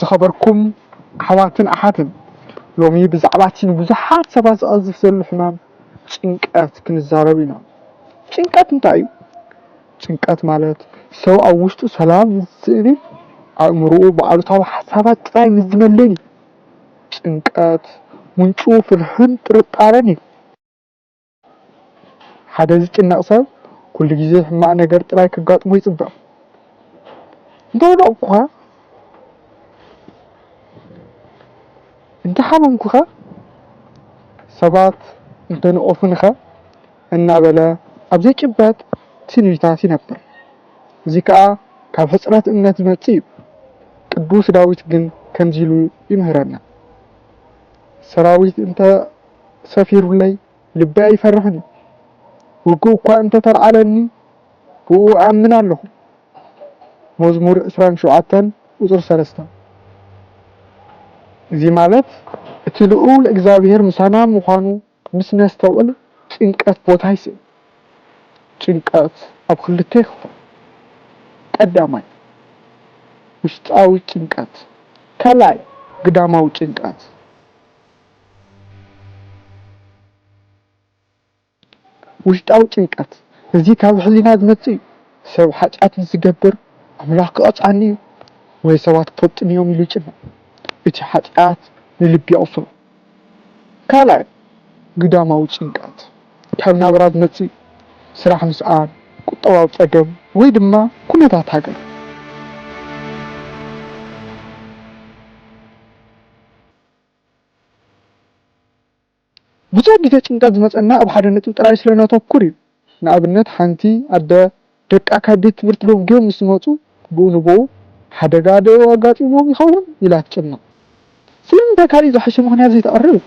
ዝኸበርኩም ኣሕዋትን ኣሓትን፣ ሎሚ ብዛዕባ እቲ ንብዙሓት ሰባት ዝቐዝፍ ዘሎ ሕማም ጭንቀት ክንዛረብ ኢና። ጭንቀት እንታይ እዩ? ጭንቀት ማለት ሰብ ኣብ ውሽጡ ሰላም ምስ ዝስእንን ኣእምሮኡ ብኣሉታዊ ሓሳባት ጥራይ ምስ ዝመልእን እዩ። ጭንቀት ምንጩ ፍርሕን ጥርጣረን እዩ። ሓደ ዝጭነቅ ሰብ ኩሉ ግዜ ሕማቅ ነገር ጥራይ ከጋጥሞ ይጽበ እንተ ወደቅኩካ እንተ ሓመምኩካ ሰባት እንተ ነቆፉንከ እናበለ ኣብ ዘይጭበጥ ትንቢታት ይነብር እዚ ከኣ ካብ ሕጽረት እምነት ዝመጽእ እዩ ቅዱስ ዳዊት ግን ከምዚ ኢሉ ይምህረና ሰራዊት እንተ ሰፊሩለይ ልበይ ኣይፈርሕን እዩ። ውግእ እኳ እንተ ተልዓለኒ ብእኡ እኣምን ኣለኹ። መዝሙር ዕስራን ሸውዓተን ቁጽሪ ሰለስተ እዚ ማለት እቲ ልኡል እግዚኣብሄር ምሳና ምዃኑ ምስ ነስተውዕል ጭንቀት ቦታ ይስእን። ጭንቀት ኣብ ክልተ ይኽፈል። ቀዳማይ፣ ውሽጣዊ ጭንቀት ካልኣይ፣ ግዳማዊ ጭንቀት። ውሽጣዊ ጭንቀት እዚ ካብ ሕሊና ዝመጽእ እዩ። ሰብ ሓጢኣት ምስ ዝገብር ኣምላኽ ክቐጽዓኒ እዩ ወይ ሰባት ክፈልጡኒ እዮም ኢሉ ይጭነቕ። እቲ ሓጢኣት ንልቢ የቕስሎ። ካልኣይ ግዳማዊ ጭንቀት ካብ ናብራ ዝመጽእ እዩ። ስራሕ ምስኣን፣ ቁጠባዊ ጸገም ወይ ድማ ኩነታት ሃገር። ብዙሕ ግዜ ጭንቀት ዝመጸና ኣብ ሓደ ነጥቢ ጥራይ ስለ ነተኩር እዩ። ንኣብነት ሓንቲ ኣደ ደቃ ካብ ቤት ትምህርቲ ደጉዮም ምስ ዝመጹ ብኡ ንብኡ ሓደጋ ዶ ኣጋጢምዎም ይኸውን ኢላ ትጭነቕ። ስለምንታይ ካልእ ዝሐሸ ምኽንያት ዘይተቕርብ?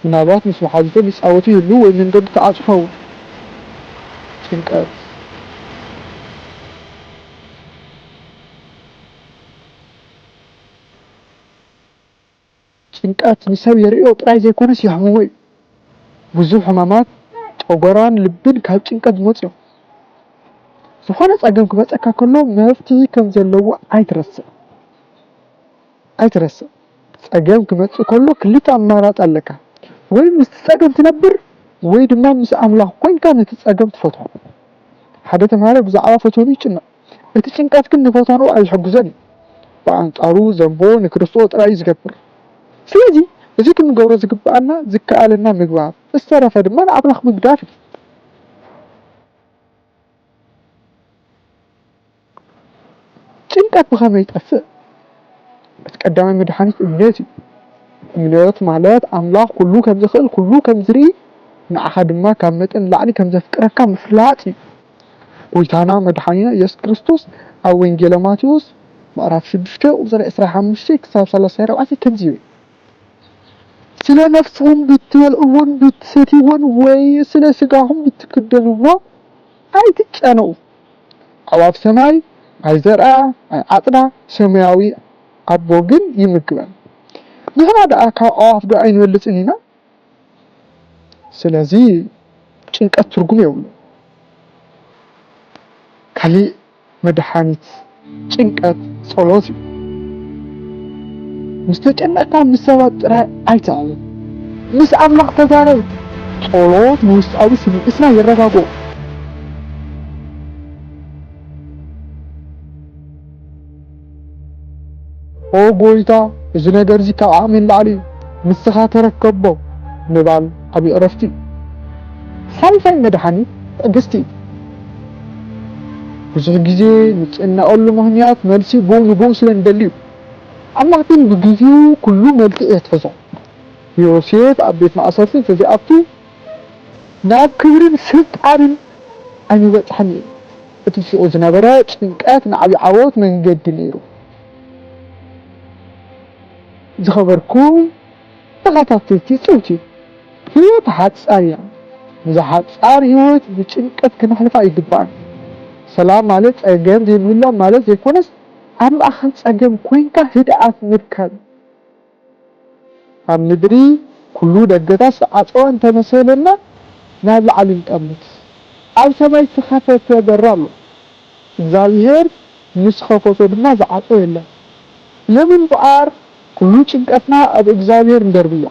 ምናልባት ምስ መሓዙቶም ይጻወቱ ይህልዉ ወይ መንገዲ ተዓጽፎም። ጭንቀት። ጭንቀት ንሰብ የርእዮ ጥራይ ዘይኮነስ የሕምሞ እዩ። ብዙሕ ሕማማት ጨጎራን ልብን ካብ ጭንቀት ዝመጹ እዮም። ዝኾነ ጸገም ክመጸካ ከሎ መፍትሒ ከም ዘለዎ ኣይትረስዕ። ኣይትረስዕ ጸገም ክመጽእ ከሎ ክልተ ኣማራጺ ኣለካ። ወይ ምስቲ ጸገም ትነብር ወይ ድማ ምስ ኣምላኽ ኮንካ ነቲ ጸገም ትፈትሖ። ሓደ ተምሃራይ ብዛዕባ ፈተንኡ ይጭነቕ። እቲ ጭንቀት ግን ንፈተንኡ ኣይሕግዞን እዩ። ብኣንጻሩ ዘንቦ ንክርስትኦ ጥራይ እዩ ዝገብር። ስለዚ እዚ ክንገብሮ ዝግብኣና ዝከኣለና ምግባር፣ ዝተረፈ ድማ ንኣምላኽ ምግዳፍ እዩ። ጭንቀት ብኸመይ ይጠፍእ? እቲ ቀዳማይ መድሓኒት እምነት እዩ። እምነት ማለት ኣምላኽ ኩሉ ከም ዝኽእል፣ ኩሉ ከም ዝርኢ፣ ንዓኻ ድማ ካብ መጠን ንላዕሊ ከም ዘፍቅረካ ምፍላጥ እዩ። ጎይታና መድሓኒና ኢየሱስ ክርስቶስ ኣብ ወንጌለ ማቴዎስ ምዕራፍ ሽዱሽተ ቁጽሪ ዕስራን ሓሙሽተን ክሳብ ሰላሳን ኣርባዕተን ከምዚ ይብል ስለ ነፍስኹም ብትበልዕዎን ብትሰትይዎን ወይ ስለ ስጋኹም ብትክደንዎ ኣይትጨነቁ ኣዕዋፍ ሰማይ ኣይዘርኣ ኣይዓጽዳ ሰማያዊ ኣቦ ግን ይምግበን ንሕና ደኣ ካብ ኣዕዋፍ ዶ ኣይንበልጽን ኢና ስለዚ ጭንቀት ትርጉም የብሉን። ካሊእ መድሓኒት ጭንቀት ጸሎት እዩ። ምስ ተጨነቕካ ምስ ሰባት ጥራይ ኣይትዕለ፣ ምስ ኣምላኽ ተዛረብ። ጸሎት ንውሽጣዊ ስምዒትና የረጋግኦ። ኦ ጐይታ፣ እዚ ነገር'ዚ ካብ ዓቕሚ ንላዕሊ እዩ፣ ንስኻ ተረከቦ ምባል ዓብዪ ዕረፍቲ እዩ። ሳልሳይ መድሓኒት ትዕግስቲ እዩ። ብዙሕ ግዜ ንጭነቐሉ ምኽንያት መልሲ ብኡ ንብኡ ስለ ንደሊ እዩ። ኣምላኽ ግን ብግዜኡ ኵሉ መልክዕ የትሕዞ። ዮሴፍ ኣብ ቤት ማእሰርቲ እንተ ዘይኣቱ ናብ ክብርን ስልጣንን ኣይምበጽሐን ነይሩ። እቲ ሽዑ ዝነበረ ጭንቀት ንዓብይ ዓወት መንገዲ ነይሩ። ዝኸበርኩም ተኸታተልቲ ጭውቲ ህይወት ሓፃር እያ ነዛ ሓፃር ህይወት ብጭንቀት ክነሕልፋ ኣይግባእን ሰላም ማለት ፀገም ዘይምህላው ማለት ዘይኮነስ ኣብ ማእኸል ፀገም ኮይንካ ህድኣት ምርካብ እዩ። ኣብ ምድሪ ኩሉ ደገታት ዝዓጸዋ እንተ መሰለና ናብ ላዕሊ ንጠምት ኣብ ሰማይ ዝተከፈተ በሪ ኣሎ እግዛብሄር ምስ ዝከፈቶ ድማ ዝዓጾ የለን ስለዚ እምበኣር ኩሉ ጭንቀትና ኣብ እግዛብሄር ንደርብዮ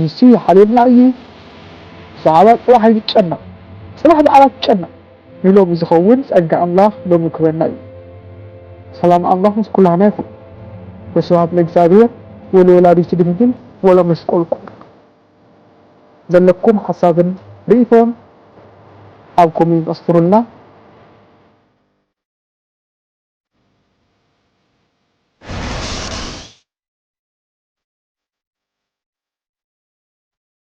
ንሱ ይሓልየልና እዩ ብዛዕባ ጽባሕ ኣይንጨነቅ ጽባሕ ባዕላ ትጨነቅ ንሎሚ ዝኸውን ጸጋ ኣምላኽ ሎሚ ክበና እዩ። ሰላም ኣምላኽ ምስ ኩላህና ይኹን። ወስብሃት ለእግዚኣብሔር ወለወላዲቱ ድንግል ወለመስቆልቁል። ዘለኩም ሓሳብን ሪኢቶን ኣብ ኮሜንት ኣስፍሩልና።